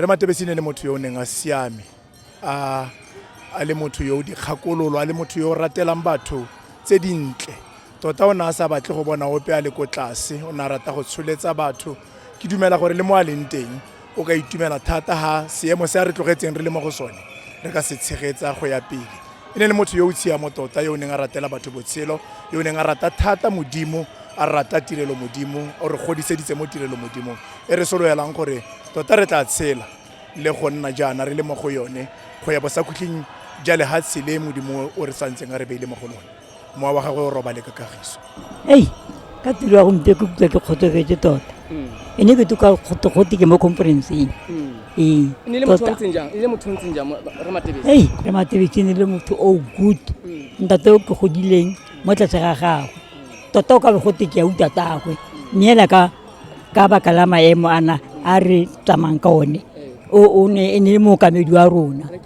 Rre Matebesi ne le motho yo o neng a siame a a le motho yo o dikgakololo a le motho yo o ratelang batho tse dintle tota o ne a sa batle go bona ope a le ko tlase o ne a rata go tsholetsa batho ke dumela gore le mo a leng teng o ka itumela thata ha seemo se a re tlogetseng re le mo go sone re ka se tshegetsa go ya pele e ne le motho yo o tshiamo tota yo o neng a ratela batho botshelo yo o neng a rata thata modimo a rata tirelo modimo o re godiseditse mo tirelo modimo e re soloelang gore tota re tla tshela le go nna jaana re le mo go yone go ya bosakhutlhing ja lehatshe le modimo o re santseng a re beile mo go lone mowa wa gagwe o robale ka kagiso ei ka tiro ya gompe ke kutlwa ke kgotsofetse tota mm. e ne ke to ka kgotokgote ke mo conferenceng mm. ee ne le motho ntseng jang le motho ntseng jang re matebetse ei re matebetse ne le motho o oh, good mm. ntate o ke godileng mo tlase ga gagwe tota o ka be gote ke ya uta tagwe mme ela ka ka baka la maemo ana a re tsamayng ka one o ne e ne le mookamedi wa rona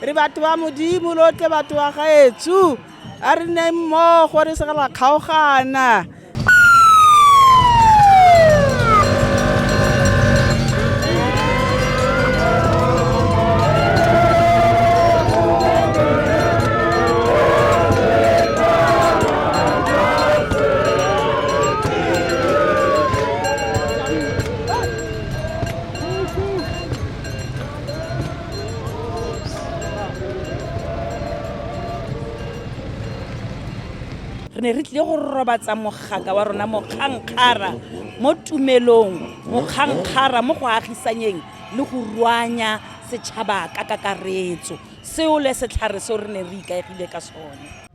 re batho ba modimo lo tle batho ba gaetsho a re nne mmogo re sega ra kgaogana Re ne re tlile go robatsa mogaka wa rona mokgankgara mo tumelong, mokgankgara mo go agisanyeng le go ruanya setšhaba ka kakaretso. Seo le setlhare seo re ne re ikaegile ka sone.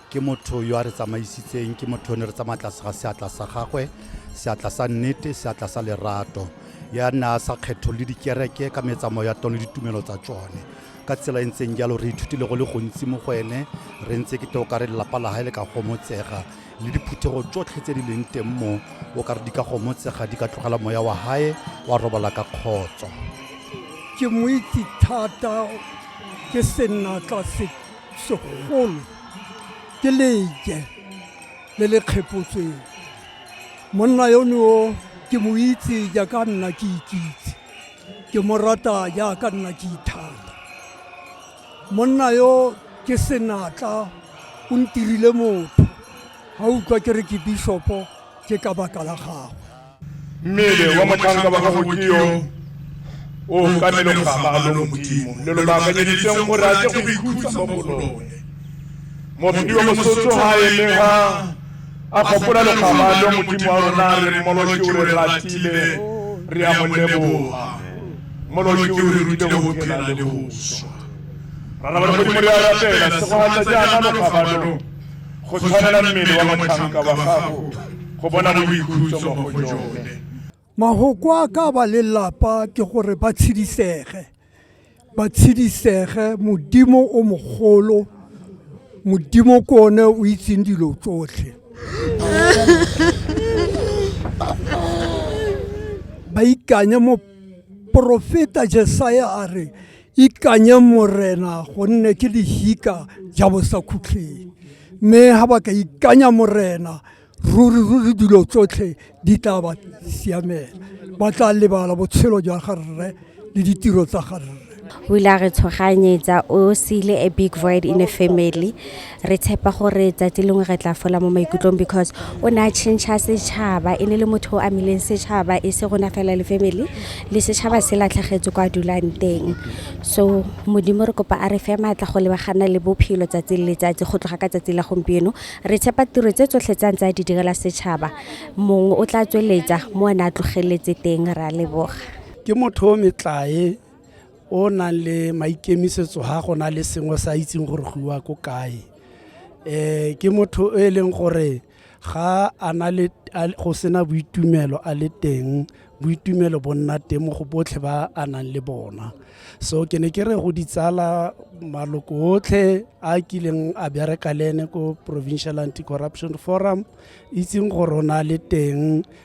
ke motho yo a re tsamaisitseng ke motho yo ne re tsamaya tlase ga seatla sa gagwe seatla sa nnete seatla sa lerato ya nna a sa kgetho le dikereke ka metsamao ya tone le ditumelo tsa tsone ka tsela e ntseng jalo re ithutile go le gontsi mo go ene re ntse ke toka re lelapa la gae le ka gomotsega le diphuthego tsotlhe tse di leng teng mo o ka re di ka gomotsega di ka tlogela moya wa gae wa robala ka kgotso ke mo itse thata ke senatla se segolo ke leke le le kgephotsweng monna yono o ke mo itse jaaka nna ke ikitse ke mo rata jaaka nna ke ithata monna yo ke senatla o ntirile motho ga utlwa ke re ke bishopo ke ka baka la gagwe mmele wa motlhanka wa gago ke yo o kameleng go gama a lo modimo le lo baakanyeditseng gore a ke go ikhutsa mo go lone mopedi wa mosotso ga a eme ga a kgopola lekgama lo modimo wa rona re mmoloke o re ratile re a mo leboga mmoloke o re rutile go phela le go swa rarabale modimo re a rapela segogatsa jaana lokgama lo go tshwanela mmele wa motlhanka wa gago go bona boikhutso mo go jone mahoko a ka ba lelapa ke gore ba tshedisege ba tshedisege modimo o mogolo modimo ko one o itseng dilo tsotlhe ba ikanye mo porofeta jesaya a re ikanyeng morena gonne ke lehika ja bosakhutlheng mme ga ba ka ikanya morena ruri ruri dilo tsotlhe di tla ba siamela ba tla lebala botshelo jwa ga rre le ditiro tsa ga rre o ile a re tshoganyetsa o sile a big void in a family re tshepa gore tsatsi lengwe re tla fola mo maikutlong because o ne a change setšhaba e ne le motho o amileng setšhaba e se rona fela le family le setšhaba se latlhagetse kwa dulang teng so modimo re kopa a re fe maatla go lebagana le bophelo tsatsi le letsatsi go tloga ka tsatsi la gompieno re tshepa tiro tse tsotlhe tsa ntse a di direla setšhaba mongwe o tla tsweletsa mo a ne a tlogeletse teng re a leboga ke motho o metlae o nang le maikemisetso ga go na le sengwe sa itseng gore go iwa ko kae um ke motho e leng gore ga a na le go sena boitumelo a le teng boitumelo bo nna teng mo go botlhe ba a nang le bona so ke ne ke re go ditsala maloko otlhe a kileng a bereka le ene ko provincial anti corruption forum itseng gore o na le teng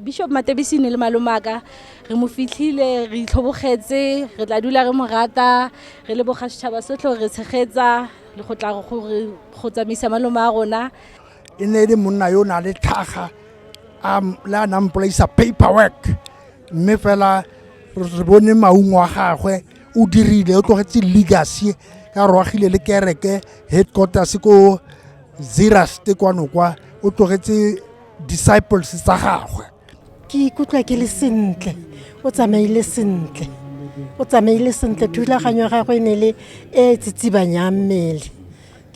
bishop matebisi ne le malomaka re mo fitlhile re itlhobogetse re tla dula re mo rata re le boga setšhaba sotlhe gore re tshegetsa le go tla gore go tsamaisa malome a rona e ne e le monna yo o na le tlhaga le a nang polaisa paper work mme fela re bone maungo a gagwe o dirile o tlogetse legacy ka rwagile le kereke headquarters ko zerust kwano kwa o tlogetse disciples tsa gagwe ke ikutlwa ke le sentle o tsamaile sentle o tsamaile sentle thulaganyo ya gagwe e ne le e e tsitsibanyang mmele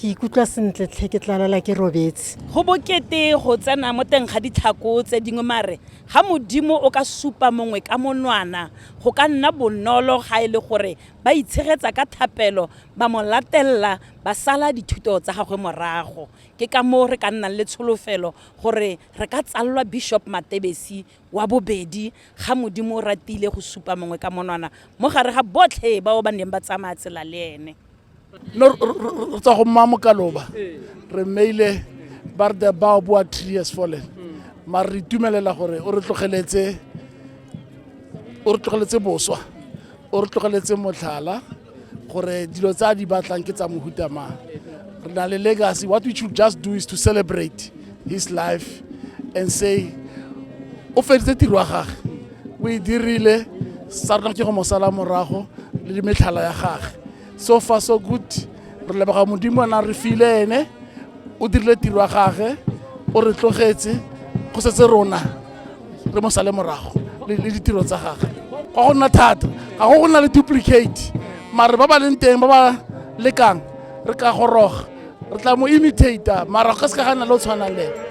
ke ikutlwa sentle tlhe ke tlalala ke robetse go bokete go tsena mo teng ga ditlhako tse dingwe mare ga modimo o ka supa mongwe ka monwana go ka nna bonolo ga e le gore ba itshegetsa ka thapelo ba mo latelela ba sala dithuto tsa gagwe morago Ke ka moo re ka nnang le tsholofelo gore re ka tsalwa Bishop Matebesi wa bobedi ga Modimo o ratile go supa mongwe ka monwana mo gare ga botlhe bao ba neng ba tsamaya tsela le ene. No re tswa go mma Mokaloba re mmeile ba re the bow boa tree has fallen mare re itumelela gore o re tlogeletse o re tlogeletse boswa o re tlogeletse motlhala gore dilo tsa di batlang ke tsa mohuta mang re na le legacy what we should just do is to celebrate his life and say o feditse tiro wa gage o e dirile sa rona ke go mosala morago le dimetlhala ya gage so far so good re leboga modimo na re file ene o dirile tiro wa gage o re tlogetse go setse rona re mo sale morago le le ditiro tsa gagwe ga go nna thata ga go go nna le duplicate mare ba ba leng teng ba ba lekang re ka goroga re tla mo imitator mara go ka se ka ga nna le o tshwanang le ene.